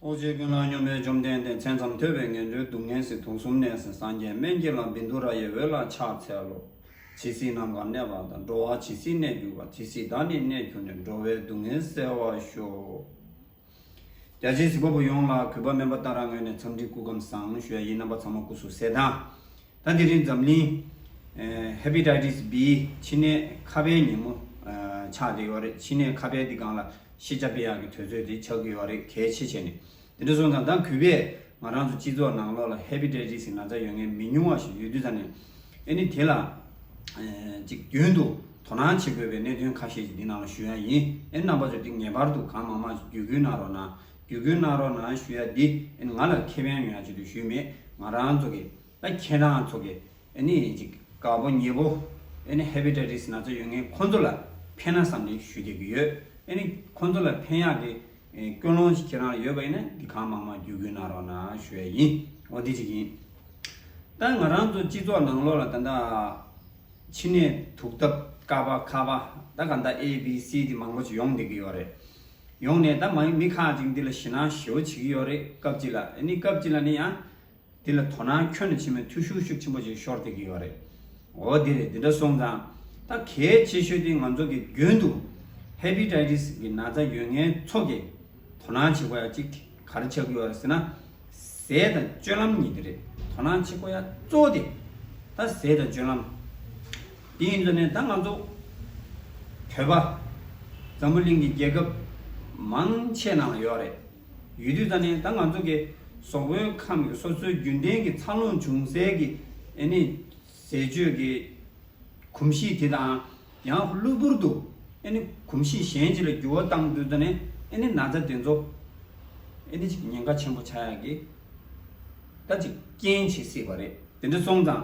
ཐུགས་རྗེ་ཀུན་བླ་སྙོམས་པའི་བཅོམ་ལྡན་འདས་མཚན་ཙམ་ཐོས་པས་ངན་འགྲོའི་སྡུག་བསྔལ་སྲིད་དུག་གསུམ་ནད་སེལ་སངས་རྒྱས་སྨན་གྱི་ལམ་བིནྡུ་ར་ཡའི་འོད་ལ་ཕྱག་འཚལ་ལོ། ཇི་སྲིད་ནམ་མཁའ་གནས་པ་དང་འགྲོ་བ་ཇི་སྲིད་གནས་གྱུར་པ་དེ་སྲིད་བདག་ནི་གནས་གྱུར་ནས་འགྲོ་བའི་སྡུག་བསྔལ་སེལ་བར་ཤོག། བརྒྱ་བྱིན་གཟིགས་པ་པོ་ཡོངས་ལ་གུས་པ་དམན་པ་ལྟར་རང་ངོས་ནས་འཚམས་འདྲི་སྐུ་ཁམས་བཟང་ཞུ་ཡ་ཡིད་རྣམ་པ་ཚང་མ་སྐུ་གཟུགས་གསལ་དང། ད་དེ་རིང་འཛམ་གླིང། Hepatitis B། མཆིན་ནད་ཁ་བའི་ཉིན་མོ། ཆགས་བསྡད་ཡོད་རེད་མཆིན་ནད་ཁ་བའི་འདི་གང་ལ་ཤེས་བྱ་དཔེ་ཡག་གི་དོལ་ཚོད་དེ་ཆགས་ཀྱི་ཡོད་རེད་གལ་ཆེ་བྱས་ནས་དེ་འདྲ་སོང་ཙང་ད་གུས་པས་ང་རང་ཚོ་སྤྱི་ཚོགས་ནང་ལོགས་ལ Hepatitis གི་ན་ཚ་ཡོད་མཁན་མི་ཉུང་བ་ཞིག་ཡོད་དུས་ད་ནས་ཨེ་ནི་དེ་ལ་ཅིག་རྒྱུན་དུ་དོ་སྣང་བྱེད་དགོས་པའི་གནད་དོན་ཁ་ཤས་ཅིག་འདི་ནང་ལ་ཞུ་ཡ་ཡིན་ཨེ་རྣམ་པ་ཚོ་འདི་ངེས་པར་དུ་གང་མང་མང་ཞིག་བརྒྱུད་སྐུལ་གནང་རོགས་གནང། བསྡུ་བསྐུལ་གནང་རོགས་གནང་ཞུ་ཡ་འདི་ང་ལ་ཁེ་ཕན་ཡོང་ཡ་ཅིག་ཏུ་ཞུས་མེད་ང་རང་ཚོ་གི་ད་ཁྱེད་རང་ཚོ་གི་གཅིག་དགའ་པོ་མྱེས་པོ Hepatitis ན་ཚོ་ཡོད་ངེས་ཁོང་ཚོ་ལ་ཕན་ན་བསམ་ཏེ་ཞུ་རྒྱག་གི་ཡོད་ཁོང་ཚོ་ལ་ཕན་ཡག་གི་ཀུན་སློང་ཞིག་ཁྱེད་རང་ལ་ཡོད་པ་ཡིན་ན་འདི་གང་མང་མང་བསྡུ་བསྐུལ་གནང་རོགས་གནང་ཞུ་ཡ་ཡིན་འོ་དེ་གཅིག་ཡིན་ད་ང་རང་ཚོ་སྤྱི་ཚོགས་ནང་ལོགས་ལ་ད་ད་ཕྱི་ནས་དུག་ཐབས་ཀ་པ་ཁ་པ་ད་ག་ད A B C ཏི་མང་པོ་ཞིག་ཡོང་བསྡད་ཀྱི་ཡོད་རེད་ཡོང་ནས་ད་མ་ཡིན་མི་ཁག་ཅིག་འདི་ལ་ཞེད་སྣང་ཞེ་བོ་བྱེད་ཀྱི་ཡོད་རེད་སྐབས་གཅིག་ལ་ཨེ་ནི་སྐབས་གཅིག་ལ་ནི་ཡང། འདི་ལ་དོ་སྣང་ཁྱོན་ནས་བྱེད་མོད་འཐུས་ཤུགས་ཤུགས་ཆེན་པོ་ཅིག་ཤོར་སྡད་ཀྱི་ཡོད་རེད། འོ་དེ་རེད་འདི་འདྲ་སོང་ཙང། ད་གལ་ཆེ་ཤོས་དེ་ང་ཚོ་གི་རྒྱུན་དུ། Hepatitis། གི་ན་ཚ་ཡོད་ངན་ཚོ་གི། དོ་སྣང་བྱེད་དགོས་ཡ་གཅིག་གར་ཆགས་ཀྱི་ཡོད་རེད་ཟེར་ན། ཟས་དང་སྤྱོད་ལམ་གཉིས་དེ་རེད་དོ་སྣང་བྱེད་དགོས་ཡ་གཙོ་བོ་དེ། ད་ཟས་དང་སྤྱོད་ལམ། དེ་ཡིན་དུ་ནས་ད་ང་ཚོ་བོད་པ་འཛམ་བུ་གླིང་གི་རྒྱལ་ཁབ་མང་ཆེ་ནང་ལ་ཡོད་རེད་ཡོད་དུས་ད་ནས་ད་ང་ཚོ་གི་ཟོག་པོའི་ཁམས་ཀྱི་སོ་སོའི་རྒྱུན་ལྡན་གྱི་འཚར་ལོངས་འབྱུང་སའི་གི་ཨེ་ནི་ཟས་སྤྱོད་ཀྱི་གོམས་གཤིས་དེ་དང་ཡང་གློ་བུར་དུ་ཨེ་ནི་གོམས་གཤིས་གཞན་ཅིག་ལ་འགྱུར་བ་བཏང་དུས་ད་ནས་ཨེ་ནི་ན་ཚ་དེ་ཚོ་ཨེ་ནི་ཅིག་ཉེན་ཁ་ཆེན་པོ་ཆགས་ཡག་གི་ད་ཅིག་རྐྱེན་བྱེད་སྲིད་པ་རེད་དེ་འདྲ་སོང་ཙང་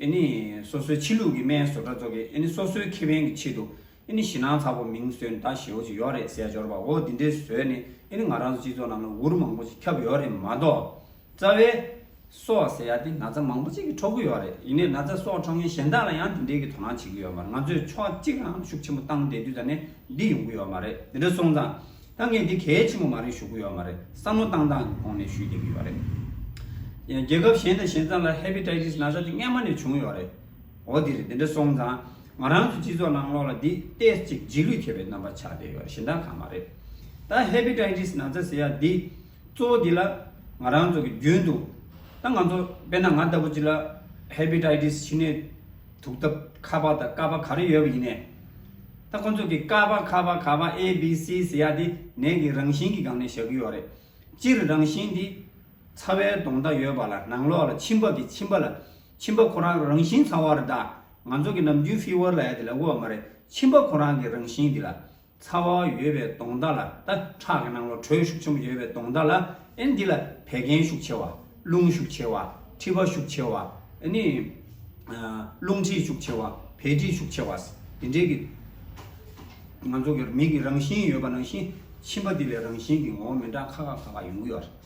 ཨེ་ནི། སོ་སོའི་ཕྱི་ལུགས་ཀྱི་སྨན་བཟོ་གྲྭ་རྫོགས་ཀྱིས་ཨེ་ནི་སོ་སོའི་ཁེ་ཕན་གྱི་ཆེད་དུ་ཨེ་ནི་ཞི་ནང་ཚ་པོ་མིང་གསོན་གདའ་ཞེའོ་ཅིག་ཡོད་རེད་ཟས་སྦྱོར་བའོ་འདི་འདྲའི་ཟོས་ནི་ཨེ་ནི་ང་རང་ཚོ་སྤྱི་ཚོགས་ནང་ན་འུར་མང་པོ་ཞིག་ཁྱབ་ཡོད་རེད་མ་གཏོགས། རྩ་བའི། སོག་ཟེར་ཡ་དེ་ན་ཚ་མང་པོ་ཅིག་གིས་འཕྲོག་གི་ཡོད་རེད་ཡིན་ནའི་ན་ཚ་སོག་འཕྲོག་མཁན་གཞན་དག་ལ་ཡང་འདི་འདྲའི་གི་དོ་སྣང་བྱེད་ཀྱི་ཡོད་མ་རེད་ང་ཚོས་ཕྱོགས་གཅིག་ལའང་ཤུགས་ཆེན་པོ་བཏང་བསྡད་དུས་ད་ནས་འདི་ཡོང་གི་ཡོད་མ་རེད་འདི་འདྲ་སོང་ཙང། ད་ངས་འདི་གལ་ཆེན་པོ་མ་རེད་ཞུ་གི་ཡོད་མ་རེད་བསམ་བློ་བཏང་སྟངས་ཀྱི་གོང་ནས་ཞུས་བསྡད་ཀྱི་ཡོད་རེད། རྒྱལ་ཁབ་གཞན་དང་གཞན་ཙམ་ལ Hepatitis ན་ཚ་འདི་སྔན་མ་ནས་བྱུང་ཡོད་རེད། འོ་དེ་རེད་དེ་འདྲ་སོང་ཙང་ང་རང་ཚོའི་སྤྱི་ཚོགས་ནང་ལོག་ལ་འདི Test ཅིག་རྗེས་ལུས་མཁས་པའི་རྣམ་པ་ཆགས་བསྡད་ཡོད་རེད་གཞན་དག་གང་མ་རེད། ད Hepatitis ན་ཚ་ཟེར་ཡ་འདི་གཙོ་བོ་འདི་ལ་ང་རང་ཚོ་གི་རྒྱུན་དུ་ད་ང་ཚོ་དཔེར་ན་ང་ལྟ་བུ་ཅིག་ལ Hepatitis ཕྱི་ནས་དུག་ཐབ་ཁ་པ་དང་ཀ་པ་ག་རེ་ཡོད་པ་ཡིན་ནས། ད་ཁོ་ཚོ་གིས་ཀ་པ་ཁ་པ་ག་པ་ཨེ་བི་སི་ཟེར་ཡ་དེ་ནད་ཀྱི་རང་བཞིན་གྱི་སྒང་ནས་བཞག་གི་ཡོད་རེད། སྤྱིར་རང་བཞིན་དེ། ཚ་བའི་གདོང་མདའ་ཡོད་པ་ལ་ནང་ལོགས་ལ་མཆིན་པ་གི་མཆིན་པ་ལ་མཆིན་པ་ཁོ་རང་རང་བཞིན་ཚ་བ་རེད་ད། ང་ཚོ་གི་ནམ་རྒྱུན Fever ལ་ཡ་དེ་ལ་དབུགས་བ་མ་རེད་མཆིན་པ་ཁོ་རང་གི་རང་བཞིན་དེ་ལ། ཚ་བ་ཡོད་པའི་དོང་ཟླ་ལ་ད་ཁྲག་གི་སྣང་བ་དྲོད་ཤུགས་ཆེན་པོ་ཡོད་པའི་དོང་ཟླ་ལ་ཨེ་འདི་ལ་བད་ཀན་ཤུགས་ཆེ་བ། རླུང་ཤུགས་ཆེ་བ། མཁྲིས་པ་ཤུགས་ཆེ་བ། ཨེ་ནི། རླུང་མཁྲིས་ཤུགས་ཆེ་བ། བད་མཁྲིས་ཤུགས་ཆེ་བ། དེ་འདྲའི་གི། ང་ཚོ་གི་མིག་གི་རང་བཞིན་ཡོད་པ་ནང་བཞིན་མཆིན་པ་འདི་ལས་རང་བཞིན་གི་ངོ་བོ་མི་འདྲ་ཁ་ཁ་ཁ་ཁ་ཡོང་གི་ཡོད།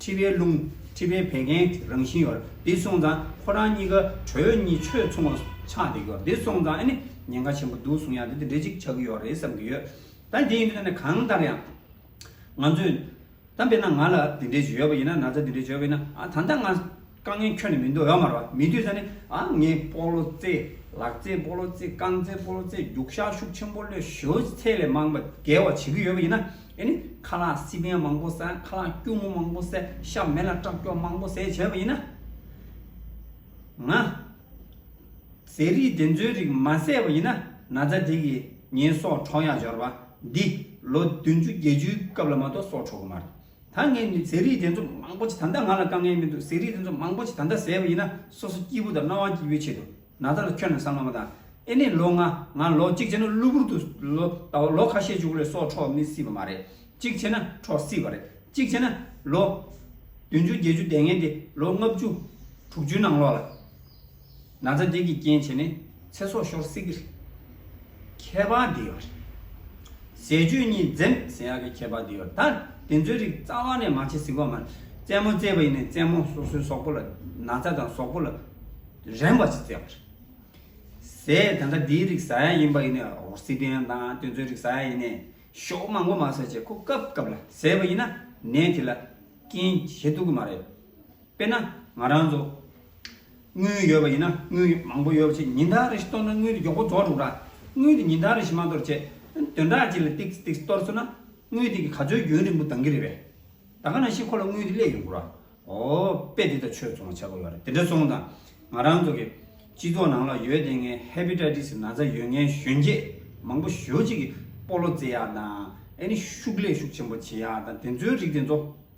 ཁྲི་པའི་ལུང། ཁྲི་པའི་བད་ཀན་རང་བཞིན་ཡོད། འདི་སོང་ཙང་ཁོ་རང་གཉིས་ཀ་གྲོས་གཉིས་ཆོས་མཚུངས་བ་ཆགས་འདུག་ཡོད། འདི་སོང་ཙང་ཨ་ནི་ཉེན་ཁ་ཆེན་པོ་འདུག་གསུང་ཡག་འདི་དེ་འདྲས་ཅིག་ཆགས་ཀྱི་ཡོད་རེད་བསམ་གྱི་ཡོད། ད་འདི་ཡིན་དུས་ན་ནི་གང་ལྟར་ཡང། ང་ཚོས། དམ་པས་ན་ང་ལ་འདི་འདྲས་ཡོད་པ་ཡིན་ན་ན་ཚ་འདི་འདྲས་བྱོས་པ་ཡིན་ན་ད་ལྟ་ང། དཀའ་ངལ་ཁྱོན་ནས་མི་འདུག་ཡོད་མ་རེད་པ་མི་འདུག་ས་ནི་ཨ་ངའི་སྤོ་ལོ་རྩེད་ལག་རྩེད་སྤོ་ལོ་རྩེད་རྐང་རྩེད་སྤོ་ལོ་རྩེད་རྒྱུག་ཤག་ཤུགས་ཆེན་པོ་ལོས་ཞོའི་ཚད་ལས་མང་པ་བརྒལ་བ་བྱེད་ཀྱི་ཡོད་པ་ཡིན་ན་ཨེ་ནི་ཁ་ལག་སི་པན་མང་པོ་བཟས་ཁ་ལག་སྐྱུར་མོ་མང་པོ་བཟས་ཤ་མེད་ལ་སྐྲག་སྐྱོགས་མང་པོ་བཟས་བྱས་པ་ཡིན་ན། ང། ཟས་རིགས་དེ་ཚོའི་རིགས་མ་བཟས་པ་ཡིན་ན་ན་ཚ་དེ་གི་ཉིན་སྲོག་འཕྲོག་ཡག་འབྱོར་པ་འདི་ལོ་བདུན་ཅུ་བརྒྱད་ཅུའི་སྐབས་ལ་མ་གཏོགས་སྲོག་འཕྲོག་གི་མ་རེད། ད་ངས་ནི་ཟས་རིགས་དེ་ཚོ་མང་པོ་ཅིག་ད་ལྟ་ང་ལ་དཀའ་ངལ་མི་འདུག་ཟས་རིགས་དེ་ཚོ་མང་པོ་ཅིག་ད་ལྟ་ཟས་པ་ཡིན་ན་སོ་སོ་སྐྱིད་པོ་དང་སྣང་བ་སྐྱིད་པོའི་ཆེད་དུ་ན་ད་ལ་ཁྱོད་རྣམས་བསམ་བློ་མ་བཏང་ཨེ་ནས་ལོ་ལྔ་ང་ལོ་གཅིག་བྱས་ན་གློ་བུར་དུ་ལོ་ད་བར་ལོ་ཁ་ཤས་བྱུང་ལས་སྲོག་འཕྲོག་མི་སྲིད་པ་མ་རེད་གཅིག་བྱས་ན་འཕྲོག་སྲིད་པ་རེད་གཅིག་བྱས་ན་ལོ། བདུན་ཅུ་བརྒྱད་ཅུ་འདས་ངན་དེ་ལོ་ལྔ་བཅུ་དྲུག་ཅུའི་ནང་ལོགས་ལ། ན་ཚ་འདི་གི་རྐྱེན་བྱས་ནས་ཚེ་སྲོག་ཤོར་སྲིད་ཀྱི་རེད། ཁྱད་པར་དེ་ཡོད་རེད། ཟས་སྤྱོད་གཉིས་འཛེམ་ཟེར་ཡག་གི་ཁྱད་པར་དེ་ཡོད་ད་དེ་ཚོའི་རིགས་རྩ་བ་ནས་མ་བྱེད་ཟིག་བ་མ་རེད་བཙན་མོ་བཙས་པ་ཡིན་ནས་བཙན་མོ་སོ་སོའི་ཟོག་པོ་ལ་ན་ཚ་དང་ཟོག་པོ་ལ་རན་པ་བྱེད་བཙས་པ་རེད། ཟས་ད་ལྟ་དེའི་རིགས་ཟ་ཡག་ཡིན་པ་ཡིན་ནས་རོ་སི་པེན་དང་དེ་ཚོའི་རིགས་ཟ་ཡག་ཡིན་ནས་ཞོག་མང་པོ་མ་ཟོས་བྱས་ཁོ་སྐབས་སྐབས་ལ་ཟས་པ་ཡིན་ན་ནད་དེ་ལ་རྐྱེན་བྱེད་ཐུབ་ཀྱི་མ་རེད། དཔེར་ན་ང་རང་ཚོ། དངུལ་ཡོད་པ་ཡིན་ན་དངུལ་མང་པོ་ཡོད་པ་བྱས་ཉིན་ལྟར་རེ་ཞིག་གཏོར་ན་དངུལ་མགྱོགས་པོ་རྫོགས་འགྲོ་གི་ར། དངུལ་དེ་ཉིན་ལྟར་རེ་ཞིག་མ་གཏོར་བྱས། དོན་དག་ཅིག་ལ་ཏིག་ཏིག་གཏོར་ཚུགས་ན། དངུལ་དེ་གི་ག་ཚོད་རྒྱུན་རིང་པོ་འདང་གི་རེད་པས། ད་ག་ན་ཞིག་ཁོ་ལ་དངུལ་དེ་སླེ་ཡོང་གི་ར། འོ། དཔེ་དེ་ལྟར་ཆོས་ཚོང་བ་བྱ་གི་ཡོད་རེད་དེ་འདྲ་སོང་དང། ང་རང་ཚོ་གི། སྤྱི་ཚོགས་ནང་ལ་ཡོད་དེ་ངའི Hepatitis ན་ཚ་ཡོད་ངའི་གཞོན་སྐྱེས་མང་པོ་ཞོ་གཅིག་གི་སྤོ་ལོ་རྩེ་ཡག་དང། ཨེ་ནི་ཤུགས་ལས་ཤུགས་ཆེན་པོ་བྱེད་ཡག་དང་དེ་ཚོའི་རིགས་དེ་ཚོ།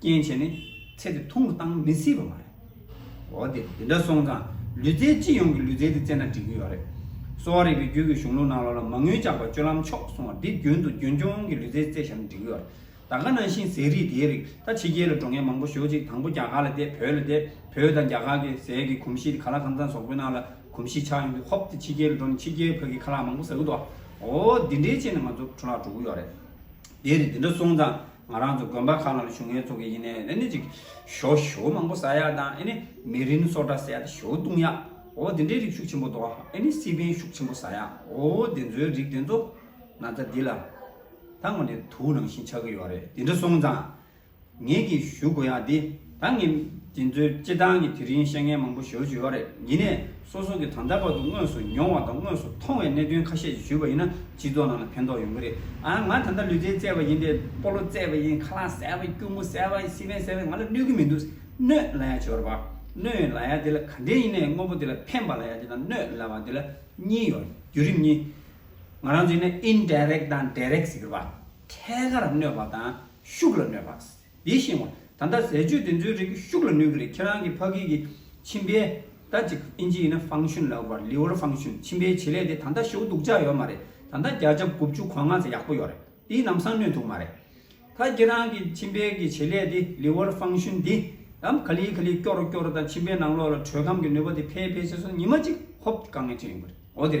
རྐྱེན་བྱས་ནས་ཚེ་དེ་ཐུང་དུ་བཏང་མི་སྲིད་པ་མ་རེད། འོ་དེ་དེ་འདྲ་སོང་ཙང་ལུས་རྩལ་སྤྱི་ཡོངས་ཀྱི་ལུས་རྩལ་དེ་རྩེ་ན་འགྲིག་གི་ཡོད་རེད། གསོ་བ་རིག་པའི་རྒྱུད་ཀྱི་གཞུང་ལུགས་ནང་ལོགས་ལ་མ་དངུལ་བཅག་པ་སྤྱོད་ལམ་ཕྱོགས་སོང་བ་འདི་རྒྱུན་དུ་རྒྱུན་འཁྱོངས་ཀྱི་ལུས་རྩལ་རྩེ་བཞག་ན་འགྲིག་གི་ཡོད་རེད། ད་ག་ནང་བཞིན་ཟས་རིགས་དེའི་རིགས་ད་ཕྱི་རྒྱལ་ལ་འགྲོ་མཁན་མང་པོ་ཞོག་ཅིག་དང་པོ་རྒྱ་གར་ལ་བསྡད་བོད་ལ་བསྡད་བོད་དང་རྒྱ་གར་གྱི་ཟས་ཀྱི་གོམས་གཤིས་དེ་ག་ལ་གང་ཙམ་ཟོག་པོའི་ནང་ལ་གོམས་གཤིས་ཆགས་ཡོང་དུས་ཧོབ་སྟེ་ཕྱི་རྒྱལ་ལ་འགྲོ་ནས་ཕྱི་རྒྱལ་བོད་ཀྱི་ཁ་ལག་མང་པོ་ཟ་གི་འདུག་ཨ་འོ་འདི་འདྲའི་ཆེད་ནས་ང་ཚོ་འཕྲོ་བརླག་འགྲོ་གི་ཡོད་རེད། དེ་རེད་དེ་འདྲ་སོང་ཙང་ང་རང་ཚོ་དགོན་པ་ཁག་ནང་ལ་བྱུང་ཡས་ཚོ་གི་ཡིན་ནས་དེ་ནི་ཅིག། ཞོ་ཞོ་མང་པོ་ཟ་ཡག་དང་ཨེ་ནི་མི་རིན་སོགས་འདྲ་ཟ་ཡག་དེ་ཞོ་བཏུང་ཡག་འོ་དེ་འདྲའི་རིགས་ཤུགས་ཆེན་པོ་འདུག་ཨེ་ནི་སི་པན་ཤུགས་ཆེན་པོ་ཟ་ཡག་འོ་དེ་ཚོའི་རིགས་དེ་ཚོ་ན་ཚ་འདི་ལ་ད་ངོ་ནས་དུག་ནང་བཞིན་ཆགས་ཀྱི་ཡོད་རེད་དེ་འདྲ་སོང་ཙང་ངེད་ཀྱིས་ཞུ་དགོས་ཡག་འདི། ད་ངས་དེ་ཚོའི་སྤྱི་བཏང་གི་དེ་རིང་བཤད་མཁན་མང་པོ་ཞོར་ཞུ་ཡོད་རེད་ཉིད་ནས་སོ་སོ་གི་ད་ལྟ་བར་དུ་དངོས་སུ་མྱོང་བ་དང་དངོས་སུ་མཐོང་བའི་གནད་དོན་ཁ་ཤས་ཞུས་པ་ཡིན་ན་སྤྱི་ཚོགས་ནང་ལ་ཕན་ཐོག་ཡོང་གི་རེད་ཨང་ང་ད་ལྟ་ལུས་རྩལ་རྩེད་པ་ཡིན་པས་སྤོ་ལོ་རྩེད་པ་ཡིན་ཁ་ལག་བསལ་བ་ཡིན་སྐྱུར་མོ་བསལ་བ་ཡིན་སི་མན་བསལ་བ་ཡིན་ང་ལ་གནོད་ཀྱི་མི་འདུག་གནོད་ལ་ཡ་བྱོར་བ་གནོད་ཡོད་ལ་ཡ་དེ་ལ་ག་འདྲས་ཡིན་ན་ཡང་དངོས་པོ་དེ་ལ་ཕན་པ་ལ་ཡ་དེ་དང་གནོད་ལ་བ་དེ་ལ་གཉིས་ཡོད་རྒྱུད་རིམ་གཉིས་ང་རང་ཚོ་ཡིན་ན Indirect དང Direct ཟེར་གི་རེད་པ་ཐད་ཀར་གནོད་པ་དང་ཤུགས་ལ་གནོད་པ། དེ་བཞིན་ཨོ། ད་ལྟ་ཟས་སྤྱོད་དེ་ཚོའི་རིགས་ཤུགས་ལ་ནུས་ཀྱི་རེད་ཁྱེད་རང་གི་ཕ་གིའི་གི་མཆིན་པའི། ད་ཅིག་ཨིན་ཇི་ཡིན་ན་ཧྥང་ཤུན་ལབ་བར Liver Function མཆིན་པའི་བྱེད་ལས་དེ་ད་ལྟ་ཞེའུ་དུག་ཆགས་ཡོད་མ་རེད་ད་ལྟ་བརྒྱ་ཆ་དགུ་བཅུ་གོ་ལྔ་ཚ་ཡག་པོ་ཡོད་རེད་དེའི་ནམ་སང་གནོད་ཐུག་མ་རེད། ད་ཁྱེད་རང་གི་མཆིན་པའི་གི་བྱེད་ལས་དེ Liver Function དེ། དམ་ག་ལི་ག་ལི་སྐྱོ་རུ་སྐྱོ་རུ་དང་མཆིན་པའི་ནང་ལོགས་ལ་དྲོད་ཁམས་ཀྱི་ནུས་པ་དེ་འཕེལ་འཕེལ་བྱས་སོང་ཉི་མ་གཅིག་ཧོབ་གང་ངེས་ཅིག་ཡོང་གི་རེད་ཨོ་དེ།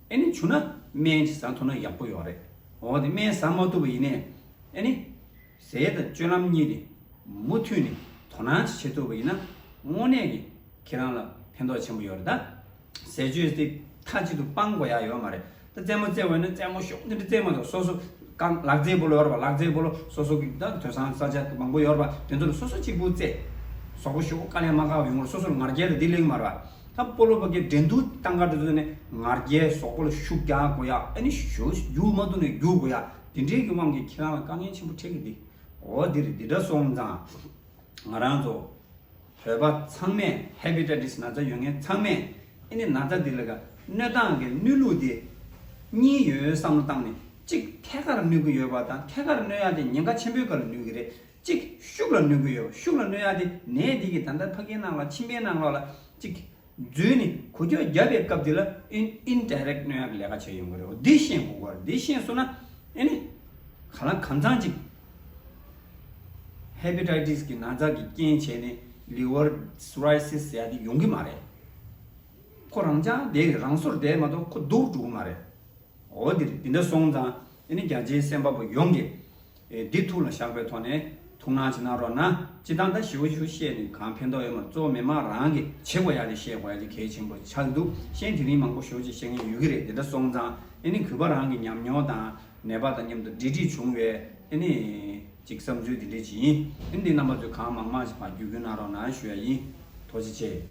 ཨེ་ནི་བྱུང་ན་སྨན་གྱི་ཟ་ཐུབ་ན་ཡག་པོ་ཡོད་རེད། འོ་དེ་སྨན་ཟ་མ་ཐུབ་པ་ཡིན་ནས་ཨེ་ནི། ཟས་དང་སྤྱོད་ལམ་གཉིས་ནི་མུ་མཐུད་ནས་དོ་སྣང་ཅིག་བྱེད་ཐུབ་པ་ཡིན་ན་དངོས་གནས་ཀྱི་ཁྱེད་རང་ལ་ཕན་ཐོགས་ཆེན་པོ་ཡོད་རེད་ད། ཟས་སྤྱོད་དེ་མཐའ་གཅིག་ཏུ་སྤང་དགོས་ཡག་ཡོད་མ་རེད་ད། རྩེད་མོ་རྩེ་འོས་ན་རྩེད་མོ་ཤོག་འདི་འདྲ་རྩེད་མོ་དང་སོ་སོ་རྐང་ལག་རྩེད་པོ་ལ་ཡོད་པ་ལག་རྩེད་པོ་ལ་སོ་སོ་གི་ད་དོན་སང་ས་ཆ་མང་པོ་ཡོད་པ་དེ་ཚོ་ལ་སོ་སོ་གཅིག་པུ་རྩེད། ཟོག་པོ་ཤོག་བུ་དཀའ་ལས་མ་དཀའ་བ་ཡོང་བར་སོ་སོ་ལ་ངར་རྒྱལ་དང་བདེ་ལེགས་མ་རེད་པ། ད་སྤོ་ལོ་བ་ཀའི་འགྲན་བསྡུར་སྟངས་ཀ་འགྲོ་དོན་ནི་ང་རྒྱལ་ཟོག་པོ་ལ་ཤུགས་རྒྱག་དགོས་ཡ་ཨ་ནི་ཞོ་རྒྱུག་མ་ཐུབ་ནས་རྒྱུག་དགོས་ཡ་དེ་འདྲའི་གི་དབང་གིས་ཁྱེད་རང་ལ་དཀའ་ངལ་ཆེན་པོ་འཕྲད་གི་འདི་འོ་འདིར་འདི་འདྲ་སོང་ཙང་ང་རང་ཚོ་བོད་པ་ཚང་མས Hepatitis ན་ཚ་ཡོད་མཁན་ཚང་མས་ཨེ་ནི་ན་ཚ་འདི་ལ་ག་གནོད་སྟངས་ཀྱི་གནོད་ལུགས་དེ་གཉིས་ཡོད་བསམ་བློ་བཏང་ནས་གཅིག་ཐད་ཀར་གནོད་གི་ཡོད་པ་དང་ཐད་ཀར་གནོད་ཡ་དེ་ཉེན་ཁ་ཆེན་པོའི་ག་ལ་ནུས་གི་རེད་གཅིག། ཤུགས་ལ་གནོད་ཀྱི་ཡོད། ཤུགས་ལ་གནོད་ཡག་དེ་ནད་འདི་གིས་ད་ལྟ་ཕ་གིའི་ནང་ལ་ཕྱི་མའི་ནང་ལོགས་ལ། གཅིག། རྫུན་ནི་གོ་རྒྱུ་བརྒྱབ་པའི་སྐབས་འདི་ལ་ཨིན Indirect གནོད་ཡག་གི་ལས་ཀ་བྱས་ཡོང་གི་རེད་བོ་འདི་ཤེས་དགོས་གོ་རེད་འདི་ཤེས་སོང་ན་ཨེ་ནི། ག་ལ་གང་ཚང་གཅིག། Hepatitis གི་ན་ཚ་གི་རྐྱེན་བྱས་ནས Liver Cirrhosis ཟེར་ཡག་འདི་ཡོང་གི་མ་རེད། ཁོ་རང་ཅག་འདས་རེད་རང་སོར་འདས་མ་གཏོགས་ཁོ་སྡུག་འགྲོ་གི་མ་རེད། འོ་འདི་རེད་འདི་འདྲ་སོང་ཙང་ཨེ་ནི་རྒྱ་ཆེའི་སེམས་པ་པོ་ཡོངས་ཀྱིས་འདི་ཐུགས་ལ་བཞག་པའི་ཐོག་ནས་ཐུགས་སྣང་བྱེད་གནང་རོགས་གནང་སྤྱི་བཏང་ད་ཞེའུ་ཆུ་བཤད་ནས་གང་ཕན་ཐོག་ཡོད་མ་གཙོ་བོ་མི་མང་རང་གི་བྱེད་དགོས་ཡག་ལས་བཤད་དགོས་ཡག་ཅིག་གལ་ཆེན་པོ་ཆགས་འདུག་གཤེན་དེ་རིང་མང་པོ་ཞོག་ཅིག་བཤད་མཁན་ཡོད་གི་རེད་དེ་འདྲ་སོང་ཙང་ཨེ་ནི་གུས་པ་རང་གི་ཉམས་མྱོང་དང་ནད་པ་དང་མཉམ་དུ་འབྲེལ་འདྲིས་བྱུང་བས་ཨེ་ནི་ཅིག་བསམ་ཚུལ་དེ་འདྲའི་བྱིན་ཨེ་ནི་འདི་རྣམ་པ་ཚོས་གང་མང་མང་ཞིག་བར་བརྒྱུད་བསྐུལ་གནང་རོགས་གནང་ཞུ་ཡ་ཡིན་དོ་ཆེ་ཆེ།